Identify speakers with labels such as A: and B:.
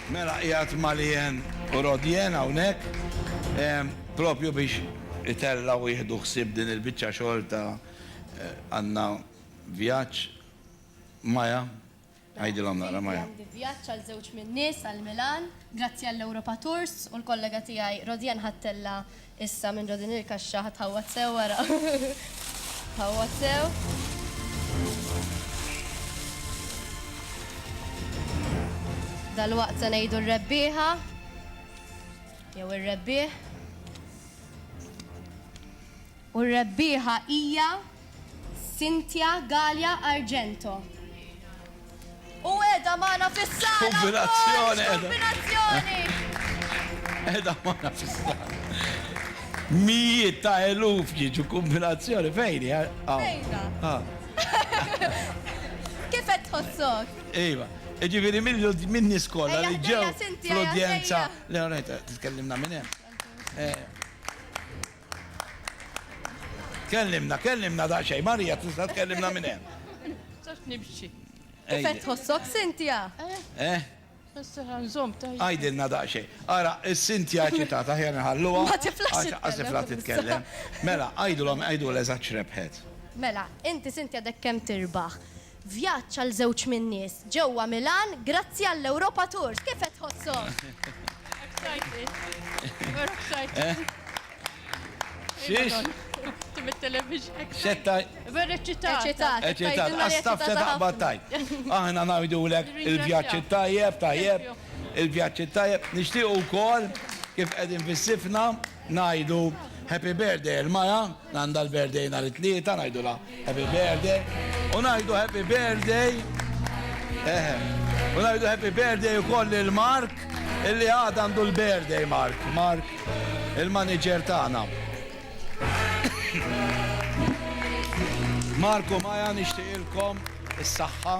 A: Mela qiegħed ma' Leanne u Rodianne hawnhekk propju biex itellgħu u jieħdu ħsieb din il-biċċa xogħol ta' għandna vjaġġ. Maya, għidilhom naqra Maya. Għandi vjaġġ għal żewġ min-nies għal Milan. Grazzi għall-Europa Tours u l-kollega tiegħi Rodianne ħadtilha Issa minn ġo din il-kaxxa ħa tħawwad sew ara. Tħawwad sew. Dal-waqt se ngħidu r-rebbieħa jew ir-rebbieħ. U r-rebbieħa hija Cynthia Galea Argento. U edha magħna fis-sala! Kombinazzjoni! Kombinazzjoni! Edha magħna fis-sala. Mijiet ta' eluf jiġu kombinazzjoni fejn? Fejna. Ah. Kif qed tħossok? Iva. Ġifieri minn nies kollha li ġew l-udjenza. Le, titkellimna minn hemm. Eh. Kellimna, kellimna daqsxejn, Marija tista' tkellimna minn hemm. Sax nimxi. Kif tħossok Sintja? Eh? Issa ħanżom tajjeb. Għajdilna daqsxejn. Ara, is-Sintja ċitat aħjar nħalluha. Ma tiflax. Għax tifla titkellem. Mela, għidulhom, għidulha eżatt x'rebħet. Mela, inti Sintja dek kemm tirbaħ? Vjaġġ għal żewġ min-nies ġewwa Milan grazzi għall-Europa Tours. Kif qed tħosshom? Excited. We're excited. Xiex? Tim it-television. Xetta. We're eċċitati. Eċċitati. Eċċitati. Għastaf se taqbad tajt. Aħna ngħidulek il-vjaġġ it-tajjeb, tajjeb. Il-vjaġġ it-tajjeb. Nixtiequ wkoll kif qegħdin fis-sifna. Ngħidu Happy Birthday il-mara li għandha l-birthday nhar it-Tlieta, ngħidulha Happy Birthday u ngħidu Happy Birthday, eħe, u ngħidu Happy Birthday ukoll lil Mark illi għada għandu l-birthday Mark, Mark il-manager tagħna. Mark u Maja nixtieqilkom is-saħħa.